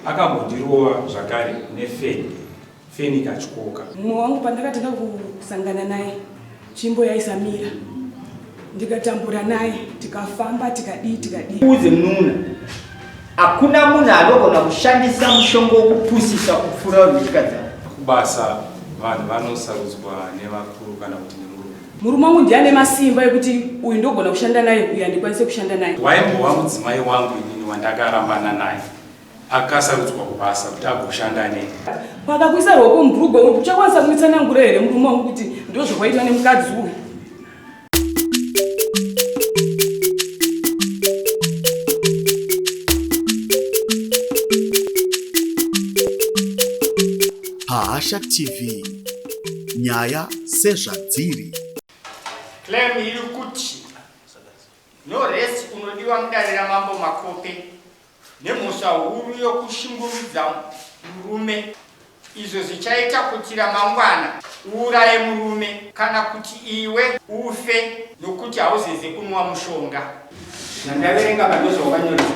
Akambondirova zvakare nefeni, feni ikatyoka. Mumwe wangu pandakatanga kusangana naye tsvimbo yaisamira ndikatambura naye tikafamba tikadii tikadii. Uudze mununa hakuna munhu anogona kushandisa mushonga wokupusisa kupfuura vanhu vechikadzi ava. Kubasa vanhu vanosarudzwa nevakuru kana kuti Murume wangu ndiye ane masimba ekuti uyu ndogona kushanda naye uyu handikwanise kushanda naye. Waimbova mudzimai wangu inini wandakarambana naye akasarudzwa kubasa kuti agoshanda nei. Pakakuisa ruoko mubhurugwa uri kuchakwanisa kumitsanangura here murume wangu kuti ndozvakwaitwa nemukadzi uyu? Bahasha TV nyaya sezvadziri. Claim iri kuti no rest unodiwa mudare ramambo Makope nemhosva huru yokushungurudza murume izvo zvichaita kuti ramangwana uuraye murume kana kuti iwe ufe nokuti hauzeze kunwa mushonga zvandaverenga pandozvawanyoresa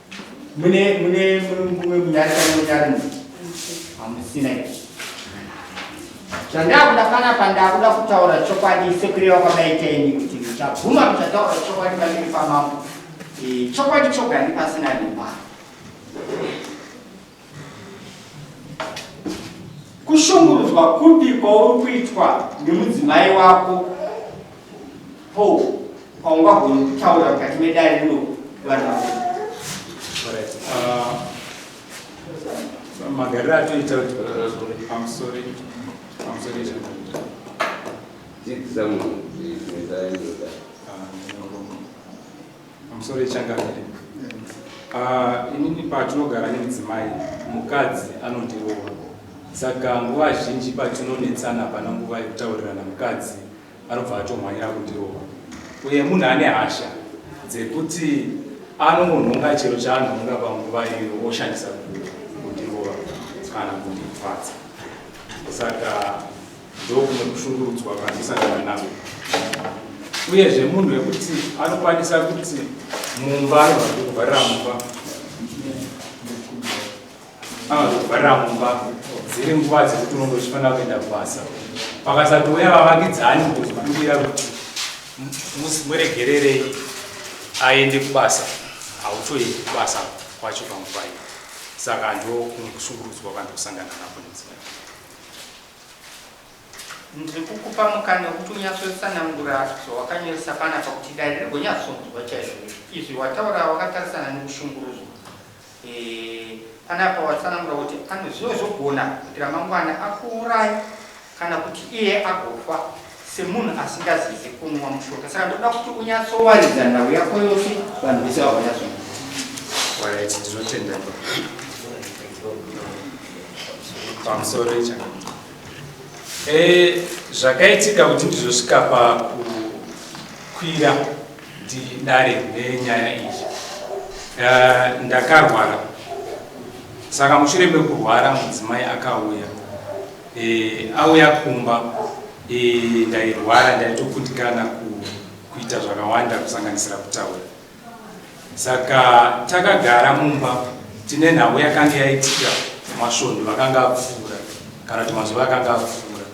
mune mune mumwe munyari kana munyari mu hamusina izvi zvandakuda panapa ndakuda kutaura chokwadi sekureva kwakaita ini kuti ndichabvuma kuchataura chokwadi pamberi pamambo chokwadi choga ndipasina limba Kushungurudzwa kupi kwauri kuitwa nemudzimai wako po paungagoni kutaura mukati medare rino vanhu vavo? Uh, magariro atoita kuti amusori amusori dzidzisa munhu Musoro ichangamire. Ah, inini patinogara nemudzimai mukadzi anondirova saka nguva zhinji patinonetsana pana nguva yekutaurirana mukadzi anobva atomhanyira kundirova uye munhu ane hasha dzekuti anongonhonga chero chaanhonga panguva iyo oshandisa kundirova kana kundipfadza saka ndokumwe kushungurudzwa kwandisangana nazvo uyezve munhu wekuti anokwanisa kuti mumba anogona kuvharira mumba anogona kuvharira mumba dziri nguva dzekuti unonge uchifanira kuenda kubasa pakasatouya vavakidzani kuzobudira kuti muregererei aende kubasa hautoendi kubasa kwacho panguva iyo saka ndo kushungurudzwa kwandikusangana nako nedzimai Ndiri kukupa mukana wekuti unyatsotsanangura zvawakanyoresa panapa kuti dare rigonyatsonzwa chaizvo izvi wataura wakatarisana nekushungurudzwa. Eh, panapa watsanangura kuti anozvinozogona kuti ramangwana akuuraye kana kuti iye agofa. semunhu asingazizi kunwa mushonga saka ndoda kuti unyatsowaridza nhau yako yose vanhu vese vavanyatsoaiti ndinotendeka pamusoro icha eh, zvakaitika kuti ndizosvika pakukwira ndidare nenyaya iyi eh, ndakarwara saka mushure mekurwara mudzimai akauya Eh, auya kumba eh, ndairwara ndaitoputikana kuita zvakawanda kusanganisira kutaura saka takagara mumba tine nhau yakanga yaitika masvondo vakanga apfuura kana kuti mazuva akanga apfuura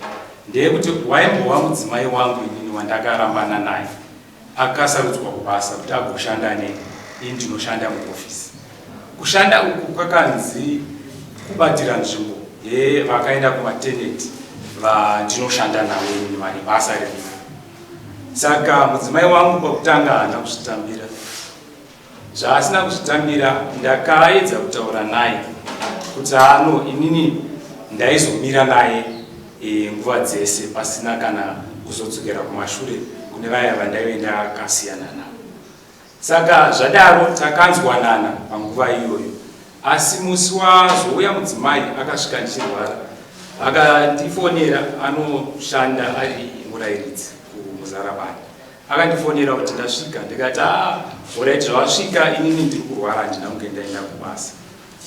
ndeyekuti waimbova mudzimai wangu inini wandakarambana naye Akasarudzwa kubasa kuti agoshanda neni, ini ndinoshanda muhofisi. Kushanda uku kwakanzi kubatira nzvimbo yevakaenda kumateneti vandinoshanda navo ini vane basa riripo. Saka mudzimai wangu pakutanga haana kuzvitambira. Zvaasina kuzvitambira ndakaedza kutaura naye kuti ano inini ndaizomira naye e, nguva dzese pasina kana kuzodzokera kumashure kune vaya vandaive ndakasiyana navo. Saka zvadaro takanzwanana panguva iyoyo, asi musi wazouya mudzimai akasvika ndichirwara akandifonera anoshanda ari murairidzi kumuzarabani Akandifonera kuti ndasvika ndikati ah, orit zvawasvika inini ndiri kurwara handina kunge ndaenda kubasa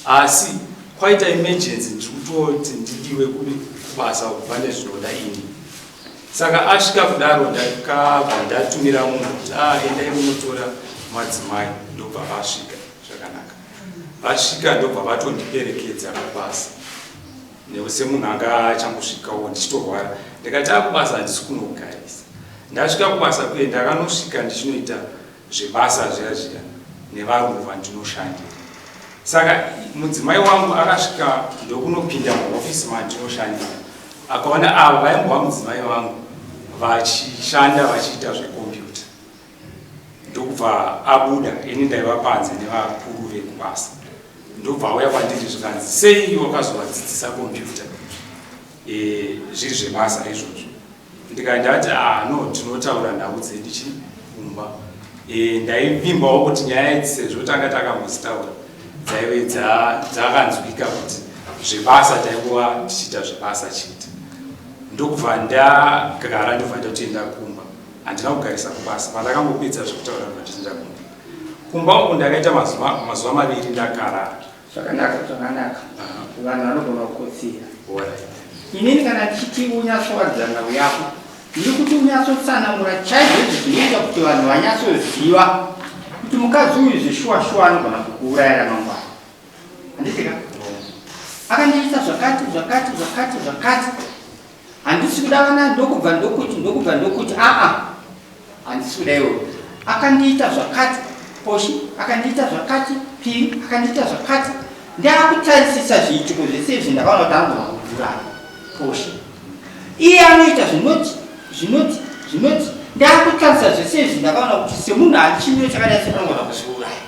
asi kwaita emergency ndiri kutoti ndidiwe kubasa pane zvinoda ini saka asvika kudaro ndakabva ndatumira munhu kuti ah, endai munotora madzimai ndobva vasvika zvakanaka vasvika ndobva vatondiperekedza kubasa Neu semunhu anga achangosvikawo ndichitorwara ndikati akubasa handisi kunogarisa. Ndasvika kubasa kuye ndakanosvika ndichinoita zvebasa zviya zviya nevarume vandinoshandira. Saka mudzimai wangu akasvika ndokunopinda muhofisi mandinoshandira akaona ava vaimbova mudzimai vangu vachishanda vachiita zvekombiyuta. ndokubva abuda ini ndaiva panze nevakuru vekubasa ndobva auya kwandiri zvikanzi sei wakazovadzidzisa kompyuta e, zviri zvebasa izvozvo ndikandati ah no tinotaura nhau dzedu chi kumba e, ndaivimbawo kuti nyaya idzi sezvo tanga takambozitaura dzaive dzakanzwika kuti zvebasa tainguva tichiita zvebasa chete ndokubva ndagara ndobva ndatoenda kumba Handina kugarisa kubasa pandakangopedza zvekutaura ndakachinja kumba. Kumba uku ndakaita mazuva mazuva maviri ndakara. Zvakanaka zvakanaka. Vanhu vanogona kukotsira. Inini kana chiti unyatsowadzana uyako ndiri kuti unyatsotsanangura chaizvo izvi zvinoita kuti vanhu vanyatsoziva kuti mukadzi uyu zveshuwa shuwa anogona kukuurayira mangwana. Handitika? Akandiita zvakati zvakati zvakati zvakati. handisi kuda vana ndokubva ndokuti ndokubva ndokuti aa handisi kuda iwo akandiita zvakati poshi akandiita zvakati pii akandiita zvakati ndakutarisisa zviitiko zvese izvi ndakaona kuti anogona kuvhurana poshi iye anoita zvinoti zvinoti zvinoti ndakutarisisa zvese izvi ndakaona kuti semunhu achimiro chakadai seanogona kuzviuraya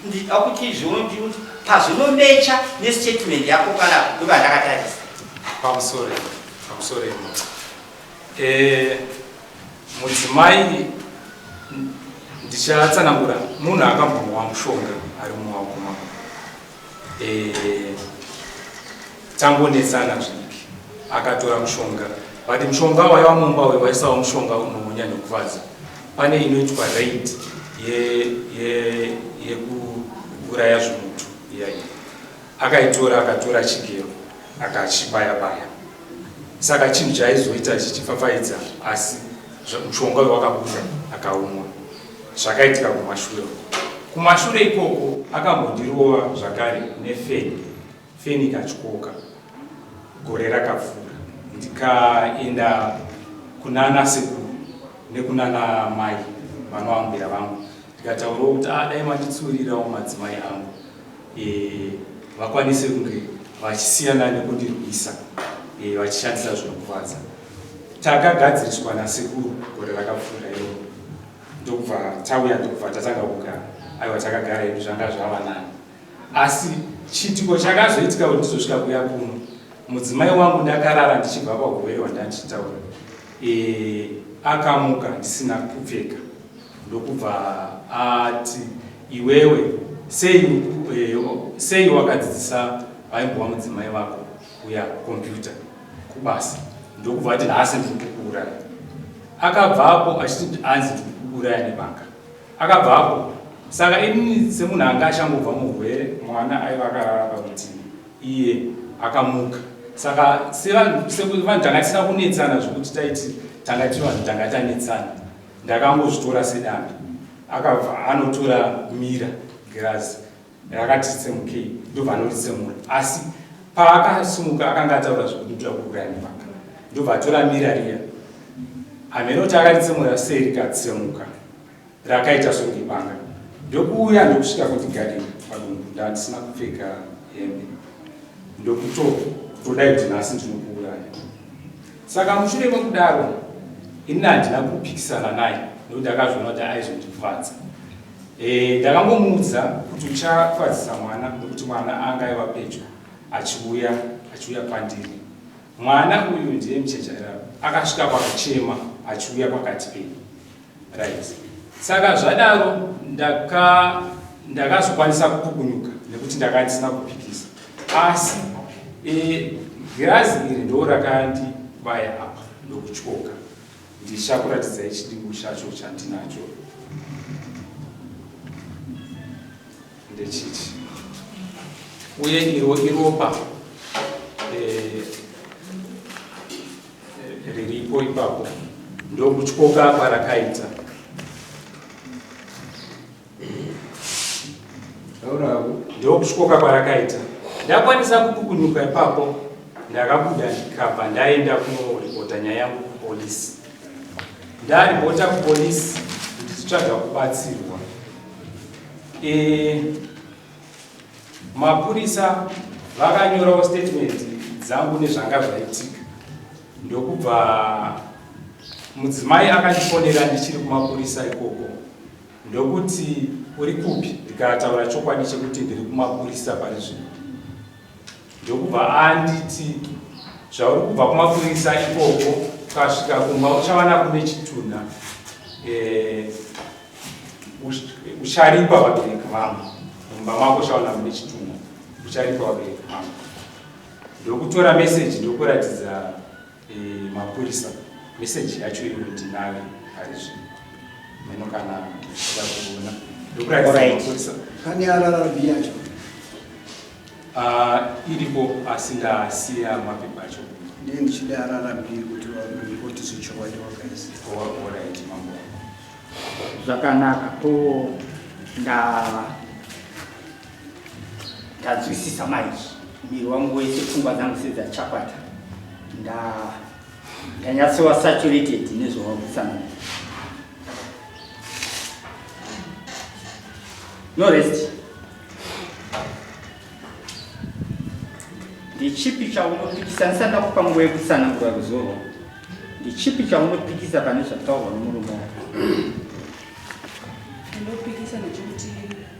Ndida kuti izvoni ndiri kuti pazvinomecha nestatement yako kana ndoba ndakatarisa. I'm sorry. I'm sorry. Eh, mudzimai ndichatsanangura munhu akambonwa mushonga ari mumaoko mako. Eh, Tangonetsana zvidiki. Akatora mushonga but mushonga waiva mumba uyu waisawo mushonga unonyanya kufadza. Pane inoitwa raid yekuuraya ye, ye zvimutu iyaiya. Akaitora akatora chigero akachibaya baya. Saka chinhu chaizoita chichifafaidza asi mushonga uyu wakabuda akaumwa. Zvakaitika kumashure. Kumashure ikoko akambondirova zvakare nefeni. Feni ikatyoka gore rakapfuura ndikaenda kunana sekuru nekunana mai vanoambira vangu ndikataurawo kuti ah, dai manditsurirawo madzimai angu eh, vakwanise kunge vachisiyana nekundirwisa eh, vachishandisa zvinokuvadza takagadziriswa nasekuru gore rakapfuura iro ndokubva tauya ndokubva tatanga kugara aiwa takagara edu zvanga zvava nani Asi chiitiko chakazoitika kuti ndizosvika kuya kuno, mudzimai wangu ndakarara ndichibva pagove rwandanditaura e, akamuka ndisina kupfeka ndokubva ati iwewe sei, e, sei wakadzidzisa vaimbova mudzimai vako uya kompyuta kubasa ndokubva ati nhasi ndiri kukuuraya. Akabvapo achiti anzi ndiri kukuuraya nemhaka Akabvapo. Saka ini semunhu anga achangobva muhurwere mwana aiva akarara parutivi iye akamuka. Saka sevanhu sekuti vanhu tanga tisina kunetsana zvekuti taiti tanga tiri vanhu tanga tanetsana. Ndakangozvitora sedanda. Akabva anotora mira girazi. rakati tsemukei ndobva anoritsemura asi paakasimuka akanga ataura zvekuti ndoda kuuraya mivaka ndobva atora mira riya hameno kuti akaritsemura sei rikatsemuka rakaita songibanga ndokuuya ndokusvika kundigadira padumbu ndandisina kupfeka hembe ndokuto kutodai kuti nhasi ndinokuuraya saka mushure mekudaro ini handina kupikisana naye nekuti akazviona kuti aizondifadza Eh, ndakangomuudza kuti uchafadzisa mwana nekuti mwana anga aiva pedyo achiuya achiuya pandiri mwana uyu ndiye muchechaira akasvika pakuchema achiuya pakati penyu right saka zvadaro ndaka ndakazokwanisa kupukunyuka nekuti ndaka ndisina kupikisa asi eh, girazi iri ndo rakandibaya apa ndokutyoka Ndichakuratidzai chidimbu chacho chandinacho. Ndechichi. Uye iro iropa eh, eh, riripo ipapo ndokutyoka kwarakaita ndokusvoka kwarakaita ndakwanisa kupukunyuka ipapo ndakabuda ndikabva ndaenda kunoripota nyaya yangu kupolisi ndaripota kupolisi ndichitsvaga kubatsirwa e, mapurisa vakanyorawo statement dzangu nezvanga zvaitika ndokubva mudzimai akandifonera ndichiri kumapurisa ikoko Ndokuti, Uri kupi? Ndikataura chokwadi chekuti ndiri kumapurisa pari zvino. Ndokubva anditi, Zvauri kubva kumapurisa ikoko, ukasvika kumba uchawana kune chitunha. Eh, ucharipa vabereki vangu. Mumba mako uchawana kune chitunha. Ucharipa vabereki vangu. Ndokutora meseji ndokuratidza Eeh mapurisa message yacho iyoyo ndinayo parizvino mheno kana uchida kuona ndokuratidza pane rrb yacho ah, iripo asi ndasiya mapepa acho ndee ndichida rrb kuti varipoti zvechokwadi wakaisa oraiti mambo zvakanaka ko ndava Tanzwisisa manje. Miri wangu wese pfungwa dzangu sedzachapata. Nda ndanyatsowa saturated nezvawakusana. No rest. Ndichipi chaunopikisanisa ndakupa nguva yekutsanangura kuzorwa. Ndichipi chaunopikisa pane zvataurwa nomurume wako? Ndinopikisa nechikuti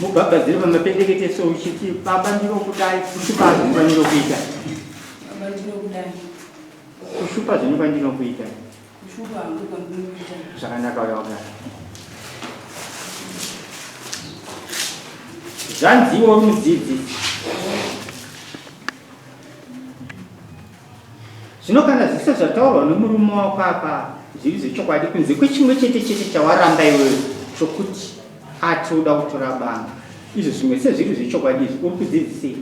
mubhabhadzire pamapendekete so uchiti baba ndinokudai kushupa zvinova ndinokuita kushupa zvinova ndinokuita zvakanaka uya wagara zvanziwo mudzidzi Zvino kana zvese zvataurwa nomurume wako apa zviri zvechokwadi, kunze kwechimwe chete chete chawaramba iwewe, chokuti ati uda kutora banga, izvo zvimwe sezviri zvechokwadi izvi, uri kudzidzisei?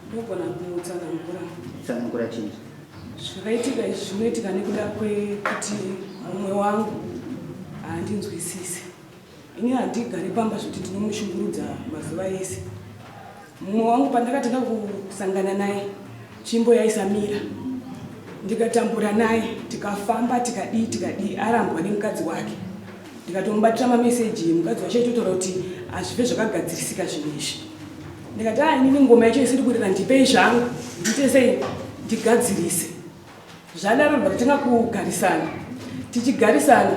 Ndogona kumutsanangura. Tsanangura chii? Zvakaitika izvi zvinoitika nekuda kwekuti mumwe wangu haandinzwisise. Ini handigare pamba zvekuti ndinomushungurudza mazuva ese. Mumwe wangu pandakatanga kusangana naye tsvimbo yaisamira ndikatambura naye tikafamba tikadii tikadii arambwa nemukadzi wake ndikatomubatira mameseji mukadzi wacho aitotaura kuti hazvive zvakagadzirisika zvinhu izvi ndikati a ah, inini ngoma yacho isiri kurira ndipei zvangu ndiite sei ndigadzirise zvadaro ndakatanga kugarisana tichigarisana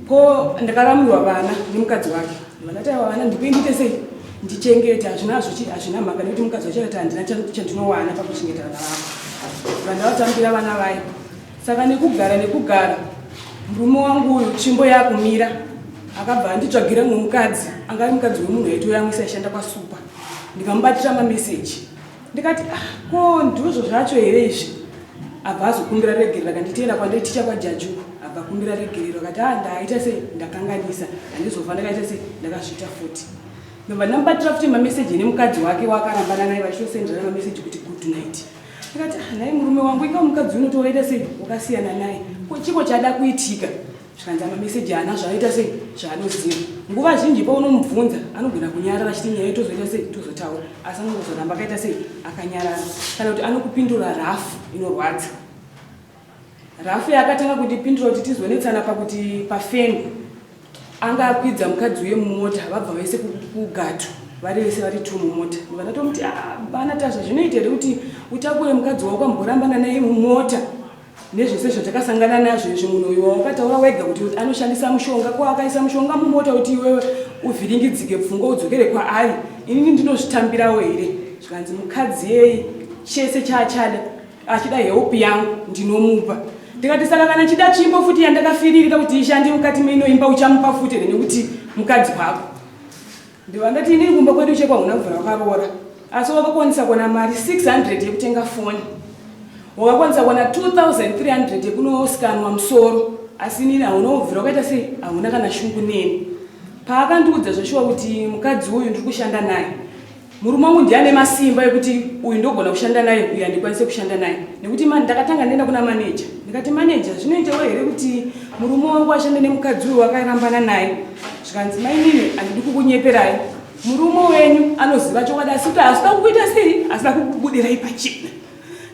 ko ndakaramurwa vana nemukadzi wake vakati ava vana ndikuindite sei ndichengete hazvina hazvina mhaka nekuti mukadzi wacho akati handina chandinowana pakuchengeta vana vako vandavatambira vana vaye saka nekugara nekugara murume wangu uyu tsvimbo yakumira akabva anditsvagira mumwe mukadzi anga ari mukadzi wemunhu aitouya amwe saishanda kwasupa ndikamubatira mameseji ndikati ah ko ndizvo zvacho here izvi abva azokumbira regerero akati tienda kwandiri ticha kwajaju abva kumbira regerero akati a ah, ndaaita sei ndakanganisa handizofa ndakaita sei ndakazviita futi ndobva ndamubatira futi mameseji nemukadzi wake waakarambana naye vachitosenderana mameseji kuti good night akati ah, nhai murume wangu ika mukadzi unotovaita sei wakasiyana naye ko chiko chada kuitika zvikanzi amameseji haana zvaanoita sei zvaanoziva nguva zhinji paunomubvunza anogona kunyarara achiti nyaya itozoita sei tozotaura asi anongozoramba akaita sei akanyarara kana kuti anokupindura rafu inorwadza rafu yaakatanga kundipindura kuti tizonetsana pakuti pafeni anga akwidza mukadzi uye mumota vabva vese kugato vari vese vari two mumota vakatomuti ah, bana tazva zvinoita here kuti utakure mukadzi waukamborambana naye mumota nezvese zvatakasangana nazvo izvi munhu uyu wawakataura wega kuti anoshandisa mushonga ko akaisa mushonga mumota kuti iwewe uvhiringidzike pfungwa udzokere kwaari inini ndinozvitambirawo here zvikanzi mukadzi yei chese chaachada achida help yangu ndinomupa ndikati saka kana chida chimbo futi yandakafiririra kuti ishande mukati meinoimba uchamupa futi here nekuti mukadzi wako Ndiva ndati inini kumba kwedu chekwa huna mvura wakaroora asi wakakwanisa kuona mari 600 yekutenga foni wakakwanisa kuona 2300 yekunosikanwa musoro asi inini hauna kubvira wakaita sei hauna kana shungu neni paakandiudza zveshuwa kuti mukadzi uyu ndiri kushanda naye murume wangu ndiye ane masimba ekuti uyu ndogona kushanda naye uyu handikwanise kushanda naye nekuti mani ndakatanga ndienda kuna maneja ndikati maneja zvinoitawo here kuti murume wangu ashande nemukadzi uyu wakarambana naye zvikanzi mainini handidi kukunyeperai murume wenyu anoziva chokwadi asi kuti hazvida kukuita sei hazvida kukubudirai pachena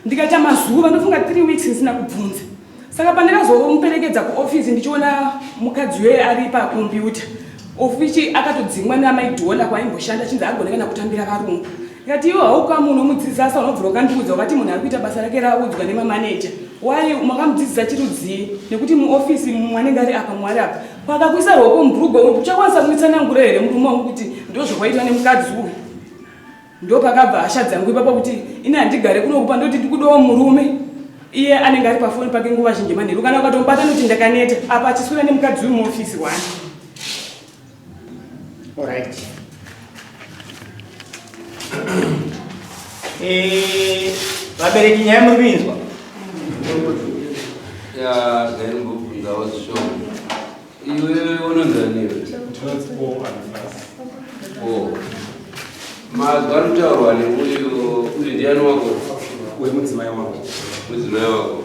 ndikaita mazuva ndofunga three weeks ndisina kubvunza saka pandakazomuperekedza kuofisi ndichiona mukadzi weye ari pakombiyuta ofici akatodzingwa neamaidhona kwaimboshanda chinzi agone kana kutambira varungu ndikati iwo hauka munhu omudzidzisa asa unobvira ukandiudza wakati munhu ari kuita basa rake raudzwa nemamaneja why makamudzidzisa chirudzii nekuti muofisi mwanenge ari apa mwari apa Pakakuisa rwoko mubhurugwa uku uchakwanisa kunitsanangura here murume wangu kuti ndozvakwaitwa nemukadzi uyu? Ndopakabva hasha dzangu ipapa kuti ini handigare kunokupa ndoti ndikudawo murume iye anenge ari pafoni pake nguva zhinji manheru kana ukatomubata noti ndakaneta apa achiswira nemukadzi uyu muofisi wani. All right. Eh, vabereki nyaya muri kuinzwa ndaimbobvunzawo zvishoma iwe unonzaniwe mazwi anotaurwa neuyo uyu ndiani wako wemudzimai wako mudzimai wako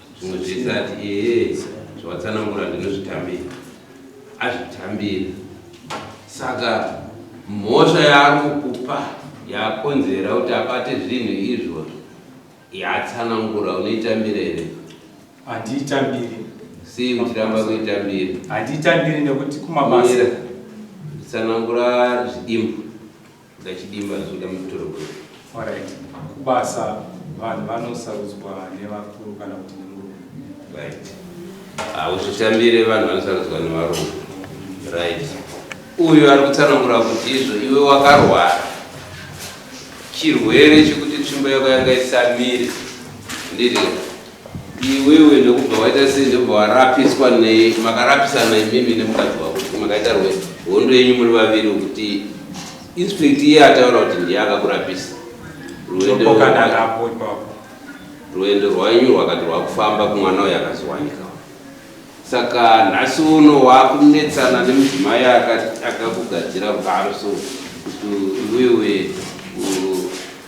zvimwe zvese ati ee zvawatsanangura ndinozvitambira azvitambira saka mhosva yaari kukupa yakonzera kuti abate zvinhu izvozvo yatsanangura unoitambira here handiitambiri sei muchiramba kuitambira handiitambiri nekuti kumabasa tsanangura zvidimbu Gachidima zvoda mutorogwe. Alright. Kubasa vanhu vanosarudzwa nevakuru kana kuti nemurume. Right. Hauzvitambire vanhu vanosarudzwa nevarume. Right. Uyu ari kutsanangura kuti izvo iwe wakarwara chirwere chekuti tsvimbo yako yanga isamire ndiri Iwewe ndokubva waita sei ndobva warapiswa nei makarapisana imimi nemukadzi wako kuti makaita rwe hondo yenyu muri vaviri kuti inspect iye ataura kuti ndiye akakurapisa rwendo rwanyu rwakati rwakufamba kumwana uyo akazowanika saka nhasi uno wakunetsana nemudzimai akakugadzira rugaro so kuti iwewe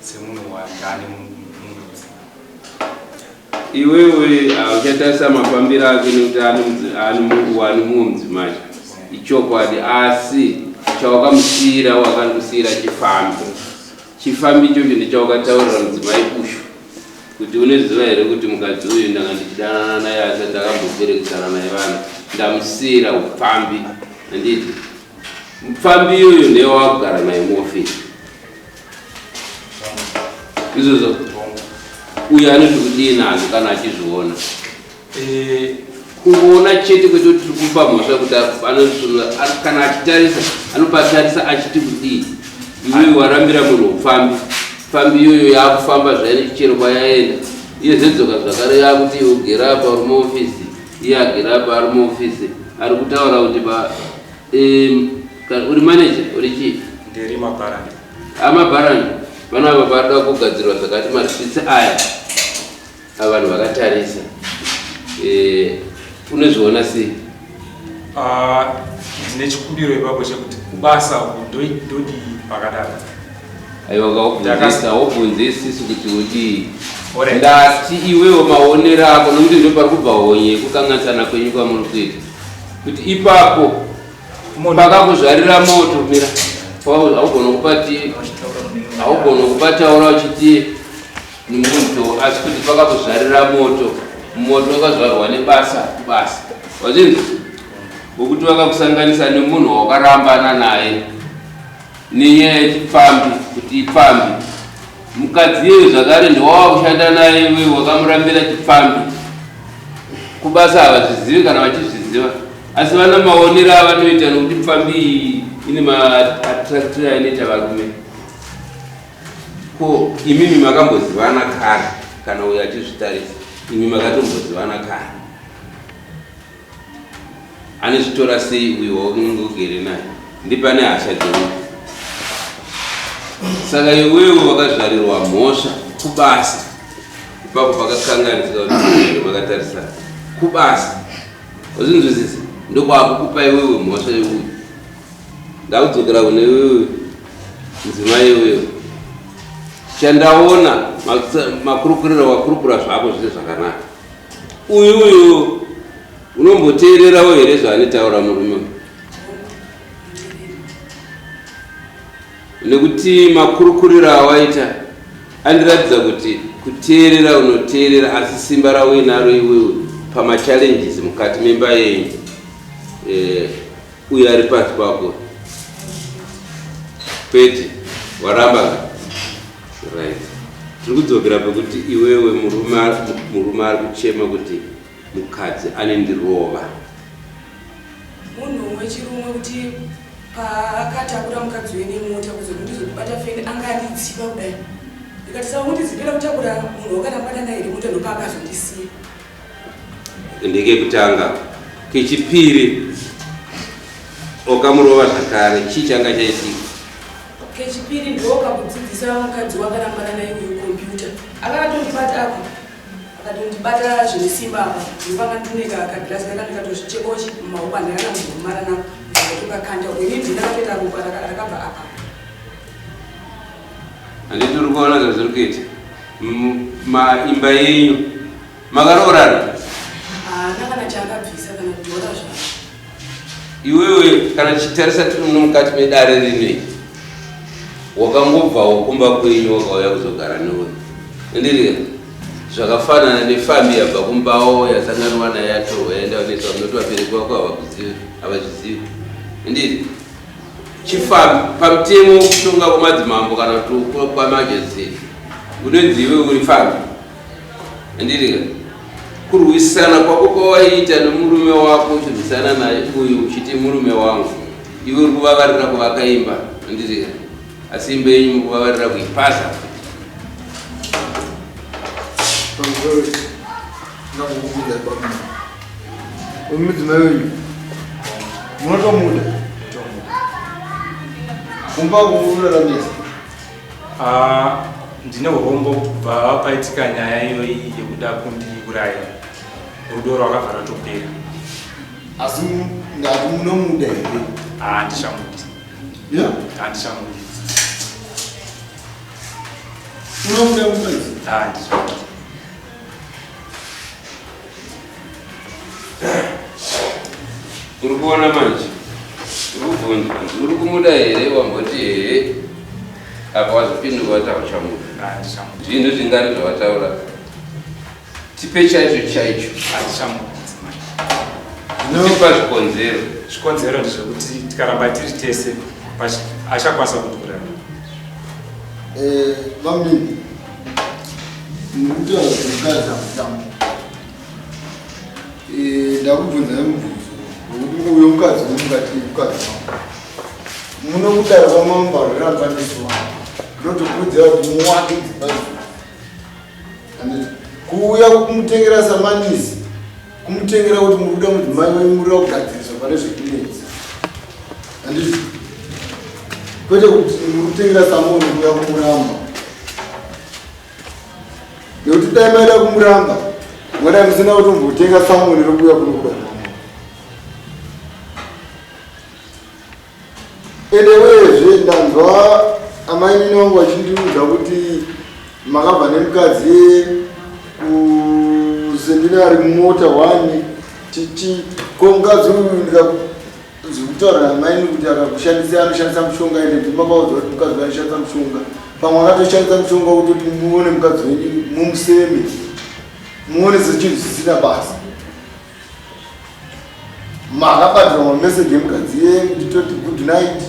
semunhu wandani mundudzi iwewe hauchatarisa mafambiro ake nekuti ani mumwe mudzimai ichokwadi asi chawakamusiyira wakakusiyira chifambi chifambi ichocho ndichawakataurira mudzimai kushu kuti uneziva here kuti mukadzi uyu ndanga ndichidanana naye asi ndakamboberekesana naye vanhu ndamusiyira upfambi handiti mupfambi iyoyo ndeye wakugara naye muofisi izvozvo uyo anoti kudii nazvo kana achizviona eh, kungoona chete kwete kuti tiri kupa mhosva kuti kana achitarisa anopatarisa achiti kudii iweyo warambira munhu upfambi pfambi iyoyo yaakufamba zvaine chichero kwayaenda iye zvedzoka zvakare yaakuti iwo gera apa ari muofisi iye agera apa ari muofisi ari kutaura kuti Um, ka- uri manager uri chief ndiri mabharani amabharani vana ava varikuda kugadzirwa zvakati maswitsi aya ava vanhu vakatarisa Eh, unozviona sei Ah, ndine chikumbiro ipapo chekuti kubasa uku ndoi- ndodii pakadaro aiwa Ndaka- kaubvunzisa wobvunzisisu kuti udii Alright. ndati iwewo maonero ako nokuti ndopari kubva honye yekukanganisana kwenyu kwamuri kuita kuti ipapo pakakuzvarira moto mira haugona kupati haugona kupataura uchiti nimuto asi kuti pakakuzvarira moto moto wakazvarwa nebasa kubasa wazvinzi wekuti wakakusanganisa nemunhu wawakarambana naye nenyaya yechipfambi kuti ipfambi Mukadzi iyeyu zvakare ndowava kushanda naye iwewe wakamurambira chipfambi. Kubasa havazvizivi kana vachizviziva asi vana maonero avanoita nokuti pfambi iyi ine maattractira inoita varume. Ko imimi makambozivana kare kana uyo achizvitarisa? Imi makatombozivana kare? Anozvitora sei uyo waunenge ugere naye? Ndipo ane hasha dzewe. Saka iwewe wakazvarirwa mhosva kubasa. Ipapo pakakanganisika kuti vakatarisana. Kubasa. Wazvinzwisisa? Ndokwakukupa iwewe mhosva yeuyu. Ndakudzokera kune iwewe mudzimai iwewe. Chandaona makurukurira wakurukura zvako zviri zvakanaka. Uyu uyu unomboteererawo here zvaanitaura murume uyu? Nekuti makurukuriro awaita andiratidza kuti kuteerera unoteerera asi simba rauinaro iwewe pamachallenges mukati memba yenyu eh, Uyo ari pasi pako kwete waramba ka right tiri kudzokera pekuti iwewe murume murume ari kuchema kuti mukadzi anendirova munhu umwe chirumwe kuti paakatakura mukadzi wene mota kuzoti ndizokubata feni anga andidziva kudai ndikati saka kundizivira kutakura munhu wakanambanana here mota ndopaakazondisiya ndekekutanga kechipiri okamurova zvakare chii changa chaitika kechipiri ndoka kudzidzisa mukadzi wakarambana naye uyu kompyuta akatondibata apa akatondibata zvine simba apa ndipanga ndineka kagirasi kakandikatozvichekochi mumaoko andakana muzomara nako ndakatokakanda ini ndinakatoita ropa rakabva apa Handiti uri kuona zvazviri kuita maimba yenyu makaroorana? Haana kana chaakabvisa kana kutora zvavo. Iwewe kana tichitarisa tiri muno mukati medare rinei wakangobvawo kumba kwenyu wakauya kuzogara newe ndiriya zvakafanana nefambi yabva kumbawo yasanganwa nayo yatorwa yaenda kunetsa unoti vabereki vako havakuzivi havazvizivi ndiri Chifambi, pamutemo wekutonga kwemadzimambo kana kuti kwamajesty unonzi iwe uri fambi andirika kurwisana kwako kwawaiita nemurume wako uchirwisana naye uyu uchiti murume wangu iwe uri kuvavarira kuvaka imba andirika asi imba yenyu muri kuvavarira kuipasa Thank you. Mudzimai wenyu munotomuda kumba kuuraramisa ah, ndine urombo kubva paitika nyaya iyoyi yekuda kundiuraya rudo rwakabva ratopera asi ndati munomuda here handichamuti ah, handichamuti unomuda munozi handichamuti ah, uri kuona manje urikubvunza uri kumuda here wamboti hehe apa wazopinduka wati hauchamuda zvinhu zvingari zvawataura tipe chaicho chaicho tipa zvikonzero zvikonzero ndezvekuti tikaramba tiri tese achakwanisa kutukurana eh, ndakubvunza nemubvunzo nokuti uyo mukadzi nomukati mukadzi wangu muno kudaro kwamamba roramba ndisiwa ndotokurudzira kuti muwake dzimba kuuya kumutengera samanisi kumutengera kuti muri kuda mudzimai wenyu murira kugadziriswa pane zvekunetsi handizvo kwete kuti muri kutengera samoni kuya kumuramba nekuti dai maida kumuramba mwadai musina kutombotenga samoni rokuya kunokuda Edewezve ndanzwa amai nini wangu vachindiudza kuti makabva nemukadzi kuseminari mumota wani titi ko mukadzi uyu ndikazwi kutaura namaini kuti akakushandisa anoshandisa mushonga ende ndimakaudzwa kuti mukadzi anoshandisa mushonga pamwe akatoshandisa mushonga kutoti muone mukadzi wenyu mumuseme muone sechinhu zvisina basa makabatira mameseji emukadzi yenyu nditoti good night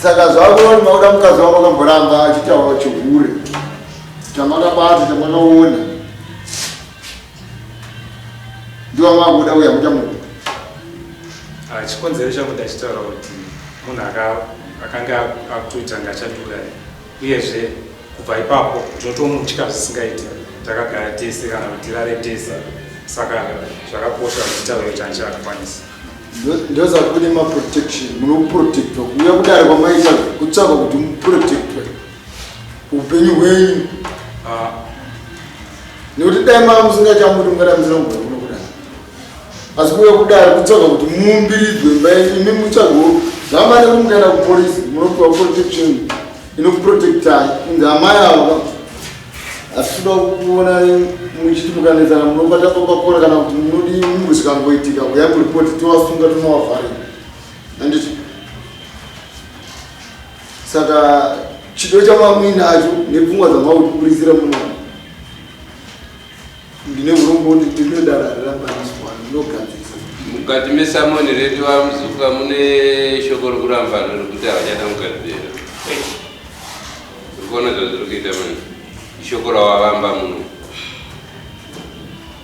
saka zvakuoni makuda mukadzi wako akamboramba achitaura chihure tamakabata tamakaona ndiwa makuda uya kuita munhu ah, chikonzero chakuda chitaura kuti munhu akanga akutoita ngachatura Uyezve kubva ipapo tinotomutya zvisingaiti takagara tese kana kuti tirare tese saka zvakakosha kuti taure kuti anche akakwanisa ndoza kune maprotection munoprotectwa kuuya kudare kwamaita kutsvaka kuti muprotectwe upenyu hwenyu ah. nekuti dai maa musingaita muti mungada musina kugara asi kuve kudaro kutsvaga kuti muumbiridzwe imba yenyu imi mutsvago zvamane kumukaenda kupolisi munopiwa protection inokuprotectai kunzi amai ava asi toda kuona muchiti mukanetsana munobata papakora kana kuti munodi mungu zvikangoitika kuya kuripoti tovasunga tonovavharira anditi saka chido chamamuinacho nepfungwa dzamauti kurisira munoa Ndine urombo kuti ndine dara rakaniswa ndinogadzisa. Mukati mesamoni redu vamuzuka mune shoko rokuramba vanhu rokuti havachada kugadzira. Urikuona zvazviri kuita manje. Ishoko rawavamba muno.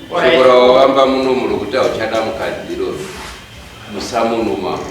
Shoko rawavamba muno murokuti hauchada mukadziro musamoni mako.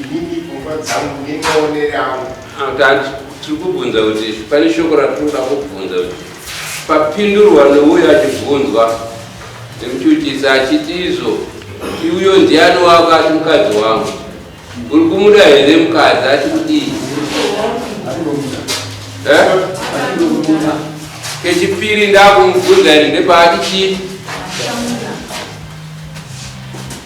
Inini pfungwa dzangu nemaonere angu. Akati tiri kubvunza kuti pane shoko ratinoda kubvunza kuti papindurwa nouyo achibvunzwa nekuchuchisa achiti izvo iuyo ndiani wako ati mukadzi wangu uri kumuda here mukadzi ati kudii eh? kechipiri ndakumubvunza iri ndepaati chii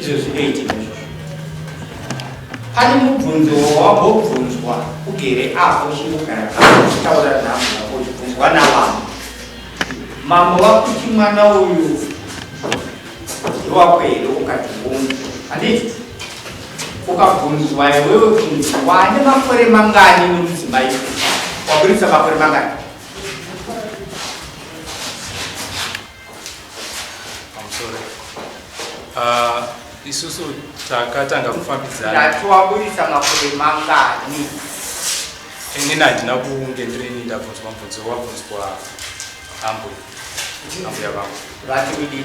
izvozvi ndoitika izvozvo pane mubvunzo wawambobvunzwa ugere apo uchingogara uchitaura nhamo yako uchibvunzwa navamwe mambo vakuti mwana uyu ndowako here ukati unzi handiti ukabvunzwa iwewe kunzi wane makore mangani nomudzimai waburitsa makore mangani I'm sorry. Uh, isusu takatanga kufambidzana. Ndatoaburitsa makore mangani? Inini handina kunge ndirini ndabvunzwa mubvunzo wabvunzwa ambuya. Ambuya vangu. Vati kudii?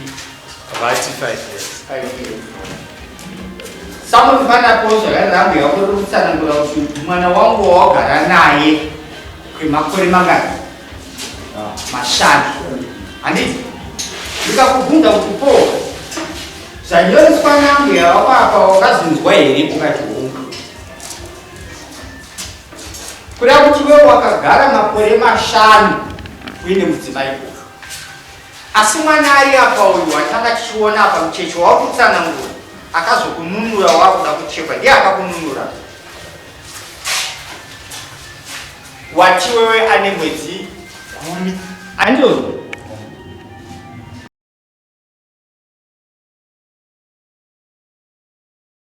Vati five years. Five years. Samunofanira pozva yari ambuya wako ri kutsanangura kuti mwana wangu wawagara naye kwemakore mangani? mashanu handiti ndikakubvunza kuti po zvanyoreswa nambo yavapapa wakazvinzwa here ukati hungu kuda kuti wewo wakagara makore mashanu uine mudzimai uyu asi mwana ari apa uyu watanga tichiona apa mucheche wakutsanangura akazokununura wakuda kuchekwa ndiye akakununura Wati wewe ane mwedzi gumi. Andoni.